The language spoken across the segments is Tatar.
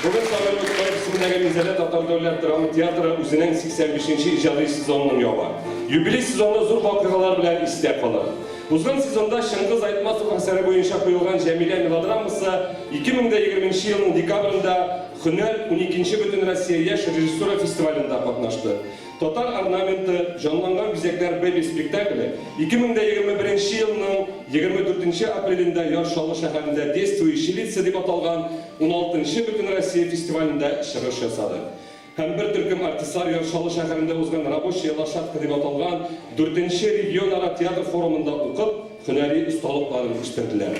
Бүген Сабантуй кайгысындагы Мизәлә татар дәүләт драма театры үзенең 85 нче иҗади сезонын яба. Юбилей сезоны зур вакыйгалар белән истә калыр. Узган сезонда Чыңгыз Айтматов әсәре буенча куелган Җәмилә мелодрамасы 2020 нче елның декабрендә Һөнәр, уникенче Бөтенроссия яшь режиссура фестивалендә катнашты. Татар орнаменты, җанланган бизәкләр бэби спектакле 2021 елның 24 апрелендә Яр Чаллы шәһәрендә Действующие лица дип аталган 16 нчы Бөтенроссия фестивалендә чыгыш ясады. Һәм бер төркем артистлар Яр Чаллы шәһәрендә узган Рабочая лошадка дип аталган 4 нче регионара театр форумында укып, һөнәри осталыкларын күрсәтәләр.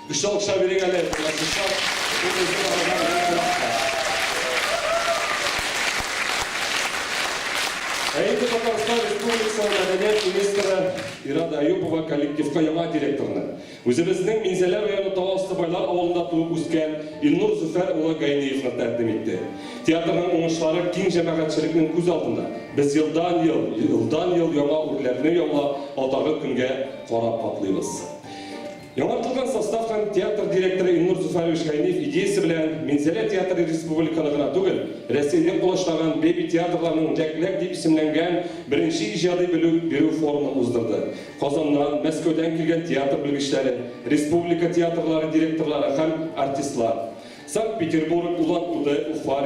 Көчле алкышлар бирик әле Владислав Кутузов абыйга безнең кунакка. Ә инде Татарстан Республикасы мәдәният министры Ирада Әюпова коллективка яңа директорны, үзебезнең Минзәлә районы Тау асты Байлар авылында туып үскән Илнур Зөфәр улы Гайниевны тәкъдим итте. Театрның уңышлары киң җәмәгатьчелекнең күз алдында. Без елдан-ел, елдан-ел яңа үрләрне яулап, атагы көнгә карап атлыйбыз. Яңартылган состав һәм театр директоры Илнур Зуфарович Гайниев идеясе белән Минзәлә театры республиканы гына түгел, Рәсәйне колачлаган беби театрларның Ләк-ләк дип исемләнгән беренче иҗади белү бирү форумын уздырды. Казаннан, Мәскәүдән килгән театр белгечләре, республика театрлары директорлары һәм артистлар, Санкт-Петербург, Улан-Удэ, Уфа,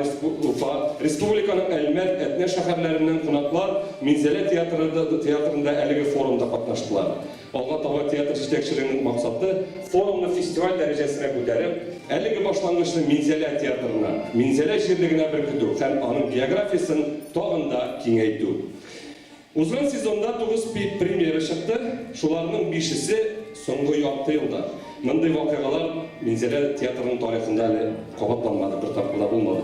Уфа, республиканың Әлмәт, Әтнә шәһәрләреннән кунаклар Минзәлә театры театрында әлеге форумда катнаштылар. Алга таба театр җитәкчелегенең максаты, форумны фестиваль дәрәҗәсенә күтәреп, әлеге башлангычны Минзәлә театрына, Минзәлә җирлегенә беркетү һәм аның географиясен тагын да киңәйтү. Узган сезонда тугыз премьера чыкты, шуларның бишесе, соңгы ярты елда. Мондый вакыйгалар Минзәлә театрының тарихында әле кабатланмады, бер тапкыр да булмады.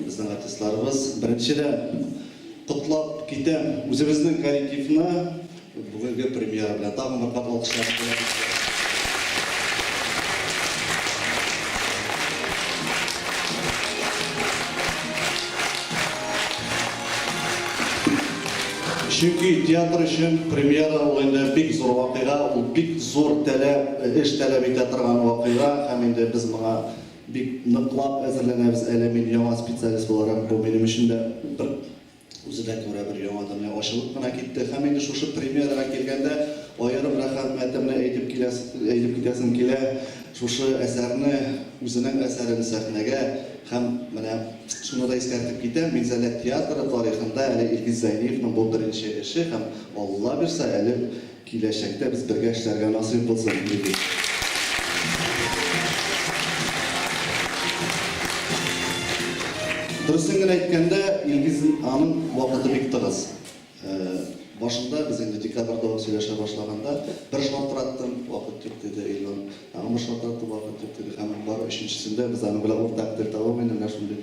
Безнең артистларыбыз. Беренчедән, котлап китәм үзебезнең коллективны бүгенге премьера белән. Тагын бер кат алкышлар бүләк итәләр. Чөнки театр өчен премьера ул инде бик зур вакыйга, ул бик зур таләп, эш таләп итә торган вакыйга һәм инде без моңа Бик ныклап әзерләнәбез әле, мин яңа специалист буларак, бу минем өчен дә бер үзенә күрә бер яңа дөнья ачылып кына китте. Һәм инде шушы премьерага килгәндә, аерым рәхәмәтемне әйтеп киләс әйтеп китәсем килә, шушы әсәрне, үзенең әсәрен сәхнәгә һәм менә шуны да искәртеп китәм, Минзәлә театры тарихында әле Илгиз Зәйниевның бу беренче эше һәм Алла бирса, әле Киләчәктә без бергә эшләргә насыйп булсын, телибез. Дөресен генә әйткәндә, Илгиз аның вакыты бик тыгыз. Башында без инде декабрьдә үк сөйләшә башлаганда, бер шалтыраттым, вакыт юк диде Илнур. Тагын бер шалтыраттым, вакыт юк диде. Һәм бары өченчесендә без аның белән уртак тел табып, инде менә шундый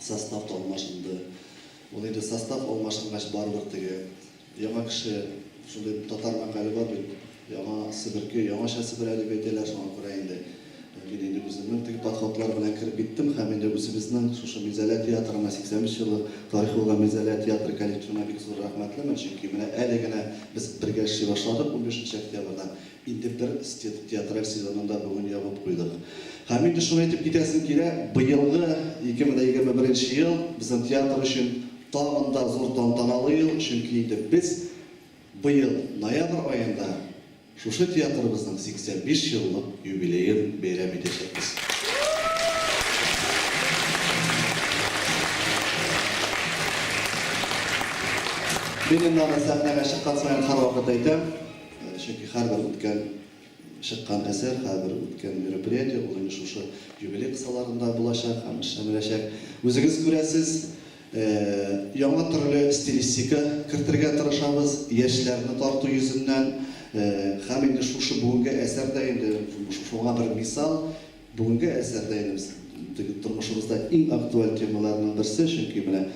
Состав та алмашынды. Ул инде состав алмашынгач барыбер теге яңа кеше шундый татар мәкале бар бит, яңа себерке, яңача себерә дип әйтәләр, шуңа күрә инде мин инде үземнең теге подходлар белән кереп киттем һәм инде үзебезнең шушы Минзәлә театрына 85 елы тарихы булган Минзәлә театры коллективына бик зур рәхмәтлемен, чөнки менә әле генә без бергә эшли башладык, унбишенче октябрьдән Интертерстит театраль сезонын да бүген ябып куйдык. Һәм инде шуны әйтеп китәсем килә, быелгы 2021 нче ел безнең театр өчен тагын да зур тантаналы ел, чөнки инде без быел ноябрь аенда шушы театрыбызның 85 еллык юбилеен бәйрәм итәчәкбез. Мин инде аны сәхнәгә чыккан саен һәрвакыт әйтәм. Чөнки һәрбер үткән, чыккан әсәр, һәрбер үткән мероприятие, ул инде шушы юбилей кысаларында булачак һәм эшләнеләчәк. Үзегез күрәсез, яңа төрле стилистика кертергә тырышабыз, яшьләрне тарту йөзеннән. Һәм инде шушы бүгенге әсәр дә инде шуңа бер мисал. Бүгенге әсәр дә инде без теге тормышыбызда иң актуаль темаларның берсе, чөнки менә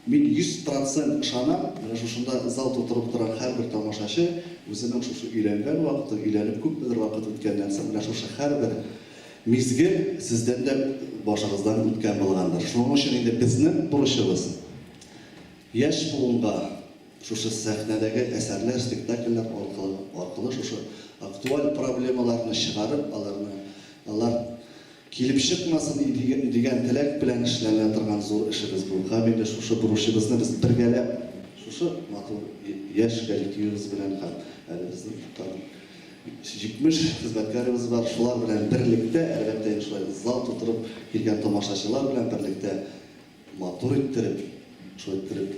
Мин йөз процент ышанам, менә шушында зал тутырып торган һәрбер тамашачы үзенең шушы өйләнгән вакыты, өйләнеп күпмедер вакыт үткәннән соң, менә шушы һәрбер мизгел сездән дә башыгыздан үткән булгандыр. Шуның өчен инде безнең бурычыбыз, яшь буынга шушы сәхнәдәге әсәрләр, спектакльләр аркылы шушы актуаль проблемаларны чыгарып, аларны, алар. Килеп чыкмасын иде дигән теләк белән эшләнә торган зур эшебез бу. Һәм инде шушы бурычыбызны без бергәләп шушы матур яшь коллективыбыз белән һәм әле безнең тагын 70 хезмәткәребез бар, шулар белән берлектә, әлбәттә инде шулай зал тутырып килгән тамашачылар белән берлектә матур иттереп, шулай иттереп,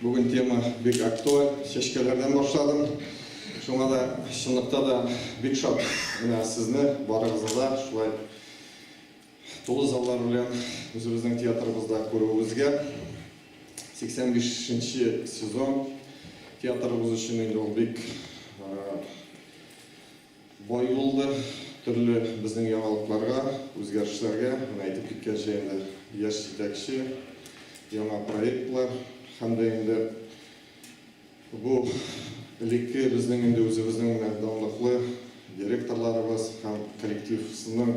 Бүген тема бик актуаль, чәчкәләрдән башладым. Шуңа да чынлыкта да бик шат менә сезне барыгызны да шулай тулы заллар белән үзебезнең театрыбызда күрүебезгә. 85 нче сезон театрыбыз өчен инде ул бик Бай булды, төрле безнең яңалыкларга, үзгәрешләргә, менә әйтеп киткәнчә инде, яшь җитәкче, яңа проектлар һәм дә инде бу элекке безнең инде үзебезнең менә данлыклы директорларыбыз һәм коллективсның,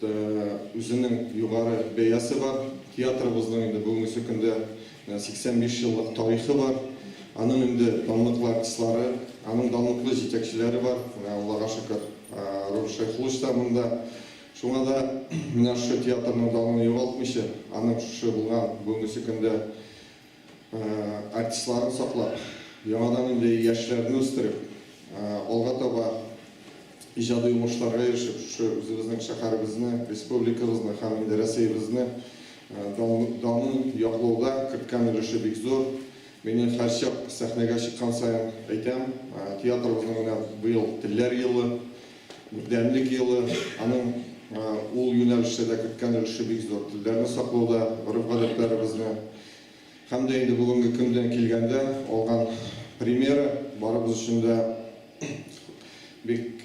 да үзенең югары бәясе бар. Театрыбызның инде бүгенгесе көндә 85 еллык тарихы бар. Аның инде данлыклы артистлары, аның данлыклы җитәкчеләре бар. Менә Аллага шөкер, Ру Шәйхуллович та монда. Шуңа да менә шушы театрның данын югалтмыйча, аның шушы булган бүгенгесе көндә, Артистларны саклап, яңадан инде яшьләрне үстереп, алга таба иҗади уңышларга ирешеп, шушы үзебезнең шәһәребезне, республикабызны һәм инде Рәсәебезне данын яклауда керткән өлеше бик зур. Мине һәрчак сәхнәгә чыккан саен әйтәм, театрыбызның менә быел Телләр елы. Бердәмлек елы, аның ул юнәлештә дә керткән өлеше бик зур. Телләрне саклауда, гореф-гадәтләребезне һәм дә инде бүгенге көндән килгәндә, алган примеры барыбыз өчен дә бик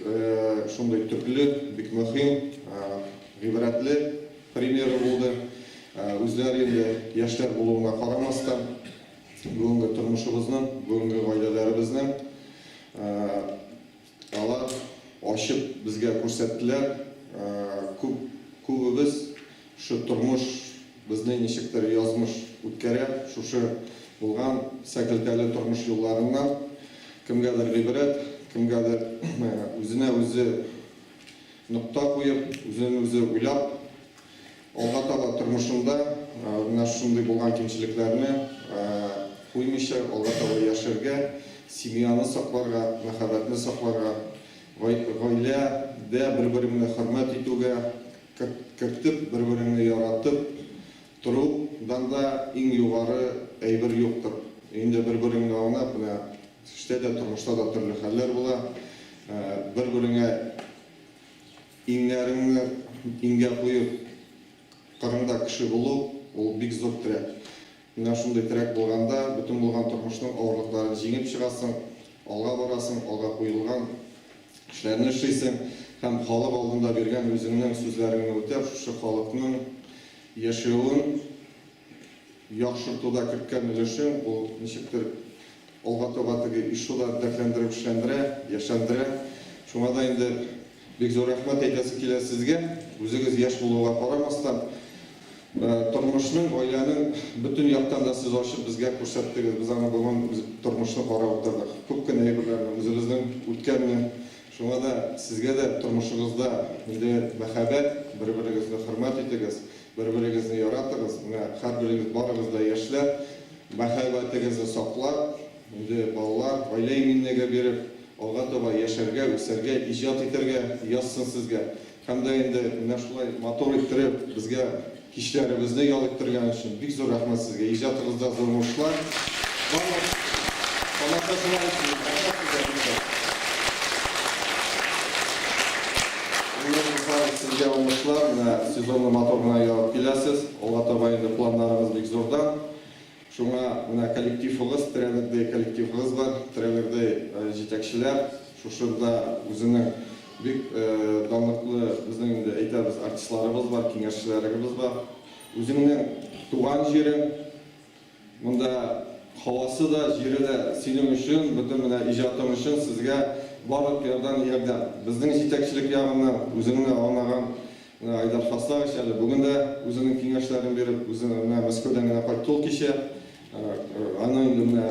шундый төпле, бик мөһим, гыйбрәтле примеры булды. Үзләре инде яшьләр булуына карамастан, бүгенге тормышыбызның, бүгенге гаиләләребезнең, Алар ачып безгә күрсәттеләр. Күп, күбебез шу тормыш безне ничектер язмыш үткәрә, шушы булган сәкелтәле тормыш юлларыннан кемгәдер гыйбрәт, кемгәдер үзенә үзе нокта куеп, үзен үзе уйлап. Алга таба тормышында менә шушындый булган кимчелекләрне куймыйча, алга таба яшәргә, семьяны сакларга, мәхәббәтне сакларга, гаиләдә бер-береңне хөрмәт итүгә, кертеп, бер-береңне яратып торудан да иң югары әйбер юктыр. Өендә бер-береңне аңлап, менә эштә дә, тормышта да төрле хәлләр була, бер-береңә Иңнәреңне иңгә куеп, кырыңда кеше булу, ул бик зур терәк. Менә шундый терәк булганда, бөтен булган тормышның авырлыкларын җиңеп чыгасың, алга барасың, алга куелган эшләрне эшлисең һәм халык алдында биргән үзеңнең сүзләреңне үтәп, шушы халыкның яшәвен, яхшыртуда керткән өлешең, бу ничектер алга таба теге ИШУ да дәртләндерә, көчләндерә, яшьләндерә. Шуңа да инде бик зур рәхмәт әйтәсе килә сезгә. Үзегез яшь булуга карамастан, тормышның, гаиләнең бөтен яктан да сез ачып безгә күрсәттегез. Без аны бүген үз тормышны карап утырдык. Күп кенә әйберләрне, үзебезнең үткәнне Шуңа да сезгә дә тормышыгызда инде мәхәббәт, бер-берегезне хөрмәт итегез, бер-берегезне яратыгыз, менә һәрберегез барыгыз да яшьләр, мәхәббәтегезне саклап, инде балалар, гаилә иминлеге биреп, алга таба яшәргә, үсәргә, иҗат итәргә язсын сезгә. Һәм дә инде менә шулай матур иттереп безгә кичләребезне ял иттергән өчен бик зур рәхмәт Сезгә! Иҗатыгызда зур уңышлар! Барлык тамашачылар өчен дә рәхмәт белдерәбез! Гөлнур Мусаева, Сезгә уңышлар! Менә сезонны матур гына ярып киләсез. Алга таба инде планнарыгыз бик зурдан. Шуңа менә коллективыгыз, тренердый коллективыгыз бар, тренердый җитәкчеләр, шушында үзенең бик данлыклы безнең инде әйтәбез артистларыбыз бар, киңәшчеләрегебез бар. Үзеңнең туган җирең, монда һавасы да, җире дә синең өчен, бөтен менә иҗатың өчен сезгә барлык ярдан ярдәм. Безнең җитәкчелек ягыннан үзеңне аңлаган Менә Айдар Хасанович әле бүген дә үзенең киңәшләрен биреп, үзе менә Мәскәүдән генә кайтты ул кичә. Аның инде менә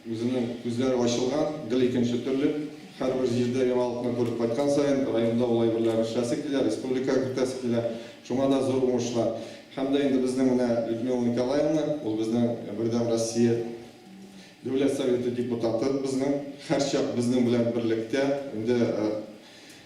үзенең күзләре ачылган, гел икенче төрле. Һәрбер җирдә яңалыкны күреп кайткан саен, районда ул әйберләрне эшләсе килә, республикага кертәсе килә. Шуңа да зур уңышлар. Һәм дә инде безнең менә Людмила Николаевна, ул безнең Бердәм Россия Дәүләт Советы депутатыбызның һәрчак безнең белән берлектә, инде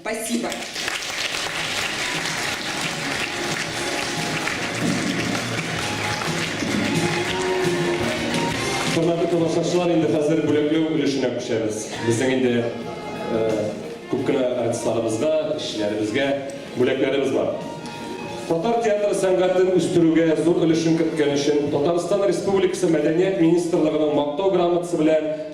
Спасибо. Хөрмәтле тамашачылар, инде хәзер бүләкләү өлешенә күчәбез. Безнең инде э, күп кенә артистларыбызга, эшчеләребезгә бүләкләребез бар. Татар театры сәнгатен үстерүгә зур өлешен керткән өчен Татарстан Республикасы Мәдәният министрлыгының мактау грамотасы белән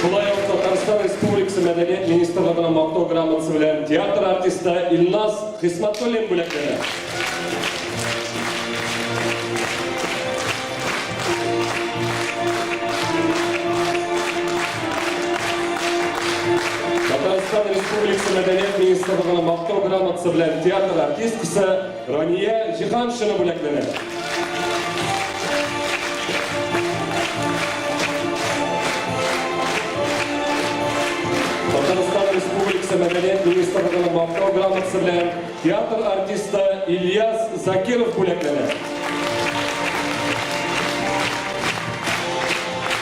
Шулай ук Татарстан Республикасы мәдәният министрлыгының мактау грамотасы белән театр артисты Илназ Хисматуллин бүләкләнә. Татарстан Республикасы мәдәният министрлыгының мактау грамотасы белән театр артисткасы Рания Җиһаншина бүләкләнә. Татарстан Республикасы мәдәният министрлыгының мактау грамотасы белән театр артисты Ильяс Закиров бүләкләнә.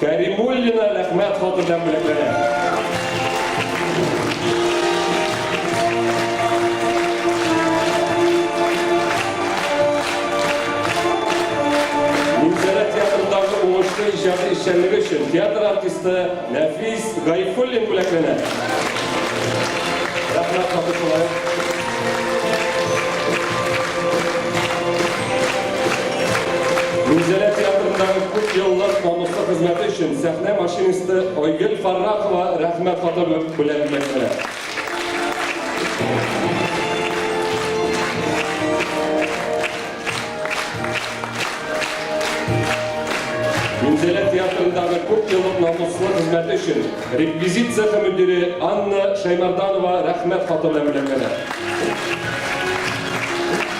Кәримуллина Рәхмәт хаты белән бүләкләнә. Минзәлә театрындагы уңышлы иҗади эшчәнлеге өчен театр артисты Нәфис Гайфуллин бүләкләнә. Рәхмәт хаты шулай ук. Гүзәлә театрындагы күп еллык намуслы хезмәте өчен сәхнә машинисты Айгөл Фаррахова рәхмәт хаты белән бүләкләнә. Гүзәлә театрындагы күп еллык намуслы хезмәте өчен реквизит цехы мөдире Анна Шаймарданова рәхмәт хаты белән бүләкләнә.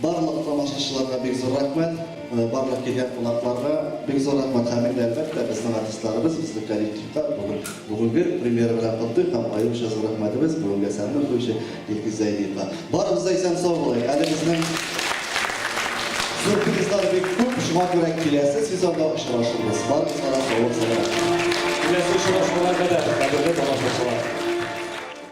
Барлык тамашачыларга бик зур рәхмәт, барлык килгән кунакларга бик зур рәхмәт һәм инде әлбәттә безнең артистларыбыз, безнең коллективка бүген бүгенге премьера белән котлыйк һәм аеруча зур рәхмәтебез бүгенге әсәрне укучы Илгиз Зәйдиевка. Барыбыз да исән сау булыйк, әле безнең сюрпризлар бик күп, шуңа күрә киләсе сезонда очрашырбыз. Барыгызга да саулык сәламәтлек. Киләсе очрашуга кадәр, кадерле тамашачылар!